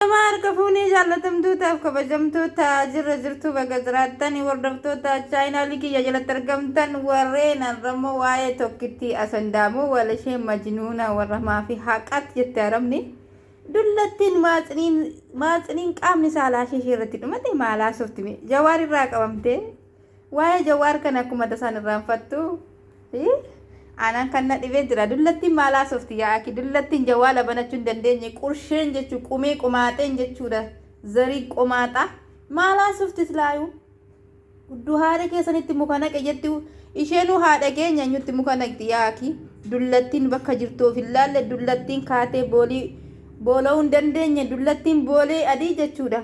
Ashamaa harka fuunee jaallatamtootaaf kabajamtoota jirra jirtuu baga jiraattan hordoftoota chaayinaalii kiyya jalatti argamtan warreen har'ammoo waa'ee tokkittii asandaamoo walashee majnuuna warra maafi haqaatti jette arabni dullattiin maatsiniin maatsiniin qaamni saalaa ishee irratti dhumate maalaa softi mee jawaar irraa qabamtee Waa'ee Jawaar kana akkuma tasaan irraanfattu. Hii? Aanaan kan na dhibee jira. Dullattiin maal haasofti yaa aki? Dullattiin jawaala banachuu hin dandeenye. Qursheen jechuu qumee qomaaxeen jechuudha. Zarii qomaaxaa. Maal haasofti islaayuu? Gudduu haadha keessanitti muka naqe jetti. Isheenuu haadha keenya eenyutti muka naqxi yaa aki? Dullattiin bakka jirtu of hin laalle dullattiin kaatee boolii boola'uu hin dandeenye. Dullattiin boolee adii jechuudha.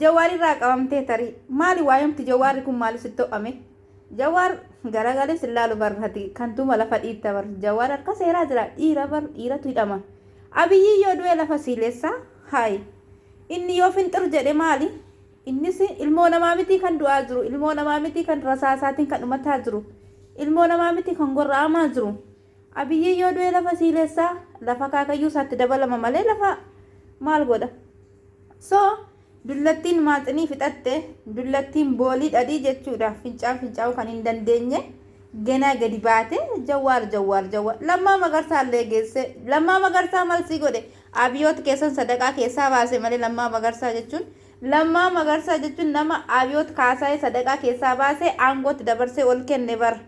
Jawaar irraa qabamtee tarii. Maali waayamti jawaarri kun maali sitti ho'ame? Jawaar garagalee sin laalu barrati kan tuma lafa dhiitta bar jawaar harka seeraa jira dhiira bar dhiiratu hidhama. Abiyyii yoo du'e lafa siilessa haayi. Inni yoo finxir jedhe maali? Innis ilmoo namaa mitii kan du'aa jiru ilmoo namaa mitii kan rasaasaatiin kan dhumataa jiru ilmoo namaa mitii kan gorra'amaa jiru. Abiyyi yoo du'e lafa siilessa lafa akaakayyuu isaatti dabalama malee lafa maal godha? So dullattiin maaxinii fixatte dullattiin boolii dhadhii jechuudha fincaan fincaa'uu kan hin dandeenye ganaa gadi baate jawwaar jawwaar jawwaar lammaa magarsaa illee geesse lammaa magarsaa malsii godhe abiyoot keessan sadaqaa keessaa baase malee lammaa magarsaa jechuun lammaa magarsaa jechuun nama abiyoot kaasaa'ee sadaqaa keessaa baase aangootti dabarsee ol kenne bara.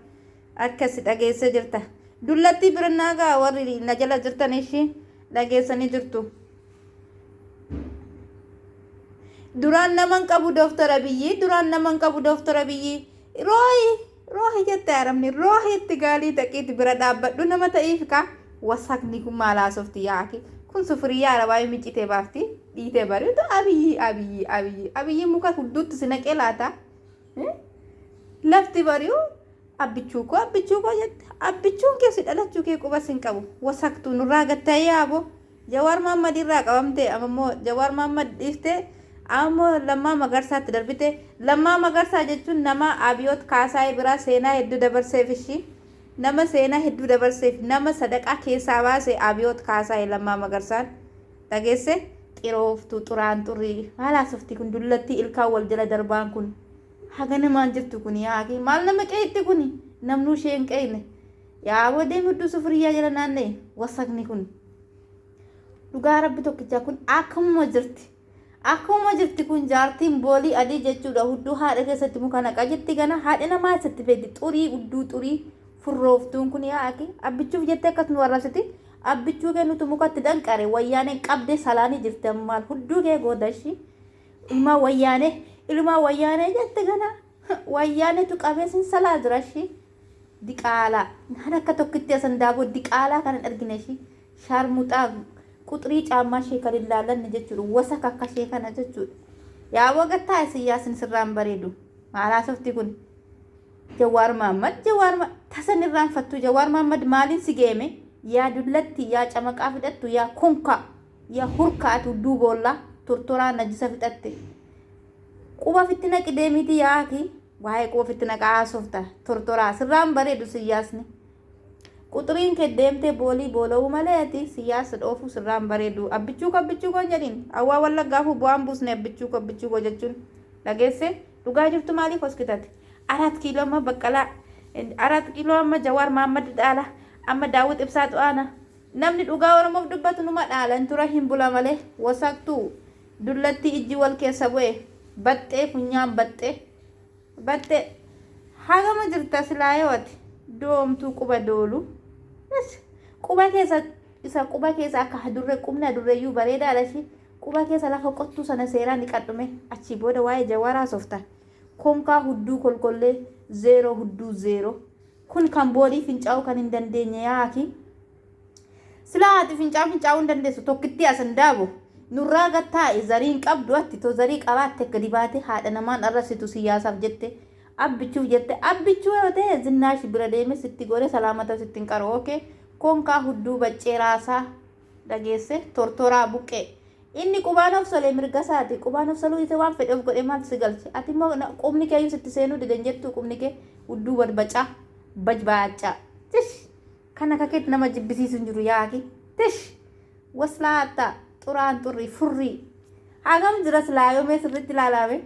Akkasi dhageessa jirta. Dullattii birannaa gaa warri na jala jirtan ishii dhageessanii jirtu. Duraan naman qabu Dooktar Abiyyi, duraan naman qabu Dooktar Abiyyi. Roohi, roohi jette arabni, roohi itti gaalii daqiitti bira dhaabbadhu nama ta'iif kaa. Wasakni kun maal haasofti yaa akhi. Kun sufuriyyaa arabaa yoo miccitee baafti, dhiitee bariitu Abiyyi, Abiyyi, Abiyyi. Abiyyi muka hudduutti si naqee laata? Lafti bari'u abbichuu koo abbichuu koo jette abbichuun kee si dhalachuu kee qubas hin qabu wasaktuu nurraa gatta'ee yaaboo jawaar maammad irraa qabamtee ammoo jawaar maammad dhiiftee ammoo lammaa magarsaatti darbite lammaa magarsaa jechuun nama abiyoot kaasaa'ee biraa seenaa hedduu dabarseef ishii nama seenaa hedduu dabarseef nama sadaqaa keessaa baase abiyoot kaasaa'ee lammaa magarsaan Dhageesse? Xirooftuu, xuraanxurrii. Maal haasofti kun dullattii ilkaan wal jala darbaan kun? Hagana maal jirtu kun yaa akii? Maal nama qeeyxi kun? Namnuu ishee hin qeeyne. Yaa aboo deemi hudduu sufuriyyaa jala naanna'i. Wasakni kun. Dhugaa rabbi tokkichaa kun akkamuma jirti. Akkamuma jirti kun jaartiin boolii adii jechuudha hudduu haadha keessatti muka naqa jetti gana haadha namaa isatti feeti xurii hudduu xurii furrooftuun kun yaa akii abbichuuf jettee akkas nu arrabsiti Abbichuu kee nutu mukatti danqare wayyaaneen qabdee salaanii jirti ammaan hudduu kee goota ishii ilmaa wayyaanee ilmaa wayyaanee jette gana wayyaanetu qabee sin salaa jira ishii diqaalaa naan akka tokkitti asan daaboo diqaalaa kan hin argine ishii shaarmuxaa quxrii caammaa ishee kan hin laalanne jechuudha wasaka akka ishee kana jechuudha yaa wagattaa isin yaasin sirraan bareedu maalaa softi kun Jawaar Mahaammad Jawaar ma tasan irraanfattuu Jawaar Mahaammad maaliin si geeme yaa dullattii yaa camaqaa fixattu yaa konkaa yaa hurkaa ati hudduu boollaa tortoraa najisa fixatte quba ofitti naqi deemiitii yaa ati waa'ee quba ofitti naqaa haasofta tortoraa sirraan bareedu siyyaasni quxuriin kee deemtee boolii boola'uu malee ati siyyaasa dhoofuu sirraan bareedu abbichuu koo abbichuu koo hin jedhin hawaa wallaggaafuu bu'aan buusne abbichuu koo abbichuu koo jechuun dhageesse Dhugaa jirtu maaliif hoskitate? Araat kiiloo amma baqqalaa araat kiiloo amma jawaar maammad dhaala amma daawwit ibsaatu aana namni dhugaa oromoof dubbatu numa dhaala hin tura hin bula malee wasaktuu dullattii ijji wal keessa bu'e baxxee funyaan baxxee baxxee hagama jirta silaayoo ati doomtuu quba doolu quba keessa isa quba keessa akka hadurre qubni hadurreeyyuu bareedaadha ishii Quba keessa lafa qottuu sana seeraa niqadhu mee achii booda waa'ee Jawaar haasofta. Konkaa hudduu kolkollee zeeroo hudduu zeeroo. Kun kan boolii fincaa'uu kan hin dandeenye yaa akii. Silaa ati fincaan fincaa'uu hin dandeessu tokkittii as indaabo. Nurraa gad taa'i zarii hin qabdu atti to zarii qabaatte gadi baatee haadha namaan arrabsitu siyyaasaaf jette abbichuuf jette abbichuu yoo ta'e zinnaash bira deeme sitti goone salaamataaf sitti hin qaru ok konkaa hudduu baccee raasaa. dhageesse tortoraa buqqee. Inni qubaan of solee mirgasaati. Qubaan of soluu dhiisee waan fedhe of godhee maaltu si galche? Ati immoo na- qubni kee iyyuu sitti seenuu dide hin jettuu qubni kee udduu badbacaa bajbaacaa. Tish! Kan akka keetti nama jibbisiisu hin jiru yaaki. Tish! Waslaatta xuraan xurrii furrii. Hagam jira silaa yoomee sirriitti ilaalaame?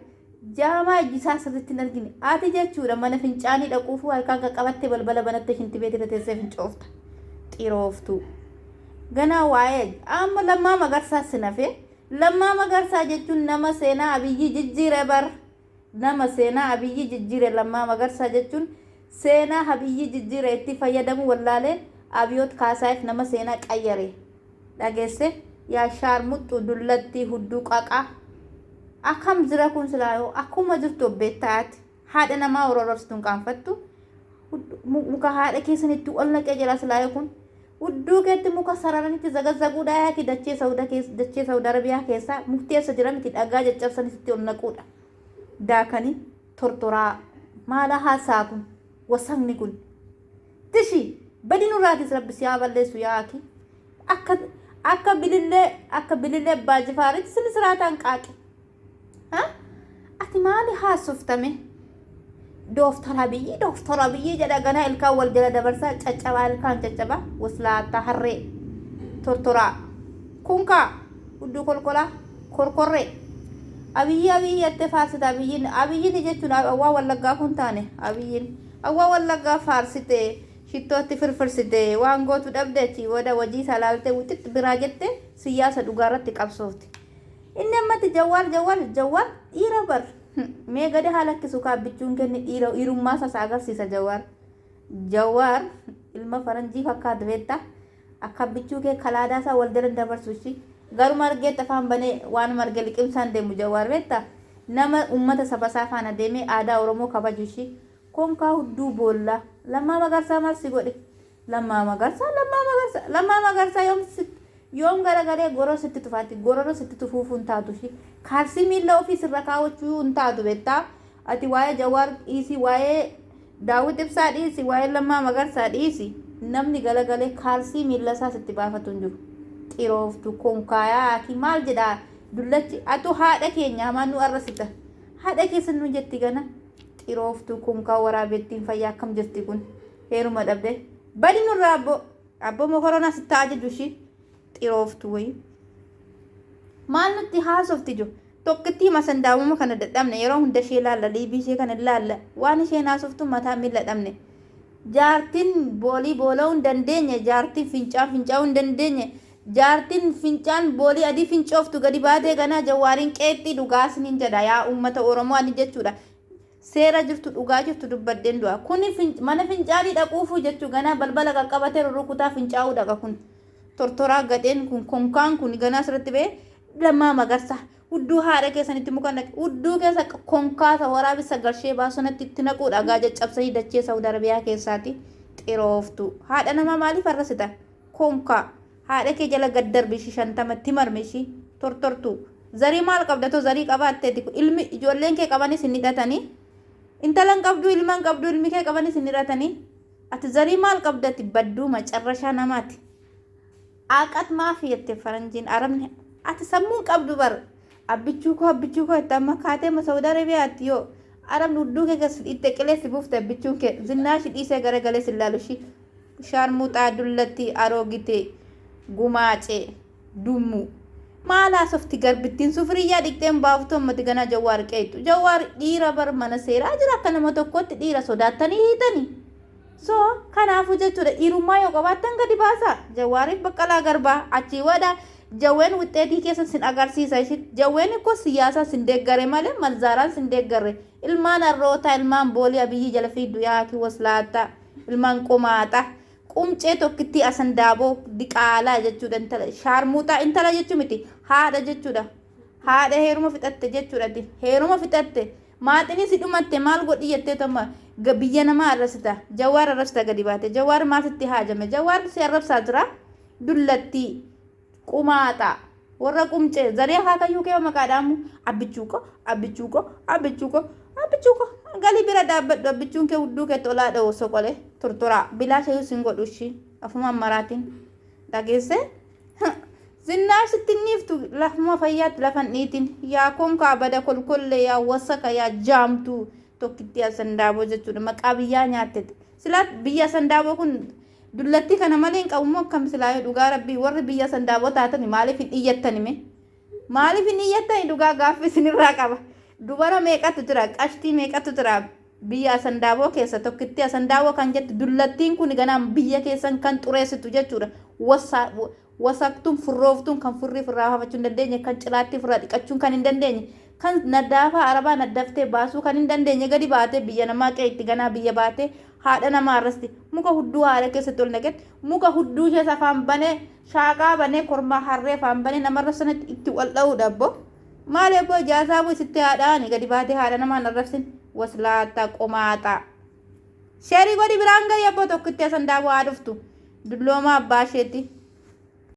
Jaamaa ijji isaa sirriitti hin argine. Ati jechuudha mana fincaanii dhaquufuu harkaan qaqqabattee balbala banattee shintibeet irra teessee fincoofta. Xirooftuu. Ganaa waa'ee amma Lammaa Magarsaa sin hafee. Lammaa Magarsaa jechuun nama seenaa Abiyyii jijjiire bar. Nama seenaa Abiyyii jijjiire Lammaa Magarsaa jechuun seenaa Abiyyii jijjiire itti fayyadamuu wallaalee Abiyoot Kaasaayeef nama seenaa qayyare. dhagesse yaa shaarmuxxuu dullattii hudduu qaqaa akkam jira kun silaa yoo akkuma jirtu of beektaa ati haadha namaa warra arrabsitu hin qaanfattu Hudduu- mu- muka haadha keessanitti ol naqee jira silaa yoo kun hudduu keetti muka sararanitti zagazzaguu dhaayaati dachee sauda keessa dachee sauda arabiyaa keessaa murteessa jira miti dhagaa caccabsanitti ol naquudha daakanii tortoraa maala haasaa kun wasakni kun Tishi badi nurraatis rabbi si haa balleessu yaa aki akka akka bilillee akka bilillee abbaa jifaaritti sini siraataan qaaqi ha ati maali haasoftamee dooftora biyyi dooftora biyyi jedha ganaa ilkaan wal jala dabarsaa caccabaa ilkaan caccabaa waslaattaa harree tortoraa kunkaa hudduu kolkolaa korkorree abiyyi abiyyi jettee faarsita abiyyiin abiyyiin jechuun waa wallaggaa kun taane abiyyiin Hawwa wallaggaa faarsite shittootti firfirsite waan gootu dhabde achii booda wajiisaa laaltee wixix biraa jette siyyaasa dhugaarratti qabsoofte inni ammatti jawwaar jawwaar jawwaar dhiira bar mee gada haa lakkisu kaabbichuun kenni dhiira dhiirummaa sasa agarsiisa jawwaar jawwaar ilma faranjii fakkaatu beektaa Akka abbichuu kee kalaadaa isaa wal jala hin dabarsu ishi. Garuma argeetti afaan banee waanuma arge liqimsaa hin deemu Jawaar beekta? Nama ummata saba isaa faana deemee aadaa Oromoo kabaju ishi. Konkaa hudduu boolla. Lammaa Magarsaa maal si godhe? Lammaa Magarsaa Lammaa Magarsaa Lammaa Magarsaa yoom si yoom garagalee goroo sitti tufaatti gororo sitti tufuufuu hin taatu ishi. Kaalsii miilla ofii sirra kaawachuu hin taatu beektaa? Ati waa'ee Jawaar dhiisii waa'ee Daawwit Ibsaa dhiisi waa'ee Lammaa Magarsaa dhiisi namni galagalee kaalsii miillasaa sitti baafatu hin jiru. Xirooftu konkaayaa ati maal jedha dullachi atu haadha keenya hamaa nu arrasita. Haadha keessan nu jetti gana xirooftu konkaa waraabettiin fayyaa akkam jirti kun heeruma dhabde badi nurraa abbo abbo mokoronaa sitti ajaju ishii xirooftu wayi. Maal nutti haasofti jo? Tokkittii masandaamuma kana dadhabne yeroo hunda ishee laalla liivii ishee kana laalla waan isheen haasoftu mataa miila dhabne. Jaartiin boolii boola'uu hin dandeenye jaartiin fincaan fincaa'uu hin dandeenye jaartiin fincaan boolii adii fincooftu gadi baatee ganaa jawwaariin qeexxii dhugaa isiniin jedha yaa uummata Oromoo ani jechuudha. Seera jirtu dhugaa jirtu dubbadheen du'a. Kuni fin- mana fincaanii dhaquufuu jechuu ganaa balbala qaqqabatee rurrukutaa fincaa'uu dhaqa kun. Tortoraa gadheen kun konkaan kun ganaa asirratti ba'e lammaa magarsa. Udduu haadha keessanitti muka naqe. Udduu keessa konkaasa waraabessa galshee baasonatti itti naquu dhagaa caccabsanii dachee Saawud Arabiyaa keessaati xirooftu. Haadha namaa maaliif arrasita? Konkaa. Haadha kee jala gad darbi ishi shantama itti marmi ishi tortortuu zarii maal qabda too zarii qabaatteti ilmi ijoolleen kee qabanis hin hidhatani intala hin qabduu ilma hin qabduu ilmi kee qabanis hin hiratani ati zarii maal qabda ati badduu macarrashaa namaati aaqat maafi jette faranjiin arabni ati sammuu hin qabdu bar abbichuu koo abbichuu koo itti amma kaatee ma saudi arabia ati yoo arabni udduu kee gas itti qilee si buufte abbichuun kee zinnaa ishi dhiisee garagalee si laalu ishii Sharmuxaa dullattii aroogite gumaace dummuu. Maal haasofti garbittiin sufriyyaa dhiqxee hin baaftu ammati ganaa jawwaar qeeqxu jawwaar dhiira bar mana seeraa jira akka nama tokkootti dhiira sodaattanii hiitani so kanaafuu jechuudha dhiirummaa yoo qabaattan gadi baasaa jawwaariif baqqalaa garbaa achii wada jawween wixxeetii keessan sin agarsiisa ishit jawween ikkoo siyaasaa sin deeggare malee malzaaraan sin deeggarre ilmaan arrootaa ilmaan boolii abiyyii jala fiigdu yaa akii waslaattaa Ilmaan qomaaxaa. Qumcee tokkittii asandaaboo diqaalaa jechuudha intala shaarmuuxaa intala jechuu miti haadha jechuudha haadha heeruma fixatte jechuudha ati heeruma fixatte maaxinii si dhumatte maal godhi jettee toma ga- biyya namaa arrasita jawaar arrasita gadi baate jawaar maal sitti haajame jawaar si arrabsaa jira dullattii Qumaaxaa. Warra qumcee. Zarii akaakayyuu kee maqaa dhaamu. Abbichuu koo, abbichuu koo, abbichuu koo, abbichuu koo. Galii bira dhaabbadhu abbichuun kee hudduu keetti olaa dha'u soqolee. Turturaa. Bilaasha iyyuu sin godhu ishii. Afumaan maraatiin. Dhageessee? Zinnaash sitti hin dhiiftu lafuma fayyaatti lafan dhiitiin. Yaa konkaa bada kolkollee yaa wasaka yaa jaamtuu. Tokkittii asandaaboo jechuudha. Maqaa biyyaa nyaattete. Silaa biyya asandaaboo kun Dullattii kana malee hin qabu moo akkam silaayu dhugaa rabbii warri biyya sandaaboo taatani maaliif hin iyyattani mee maaliif hin iyyattani dhugaa gaaffi isinirraa qaba dubara meeqatu jira qashtii meeqatu jira biyya asandaaboo keessa tokkitti asandaaboo kan jettu dullattiin kun ganaan biyya keessan kan xureessitu jechuudha wassaa wasaktuun, furrooftuun, kan furrii ofirraa baafachuu hin dandeenye, kan cilaattii ofirraa dhiqachuun kan hin dandeenye, kan naddaafaa arabaa naddaftee baasuu kan hin dandeenye gadi baatee biyya namaa qe'ee itti ganaa biyya baatee haadha namaa arrasti muka hudduu haadha keessatti ol naqet muka hudduu ishees afaan banee shaaqaa banee kormaa harree afaan banee nama arrabsanatti itti wal dha'uu dhabbo maal ebboo ijaasaa boo isitti haadhaani gadi baatee haadha namaa hin arrabsin waslaataa qomaaxaa. Sheerii godhi biraan gahi abboo tokkitti asan daawwaa haa dhuftu dulloomaa abbaa isheetti.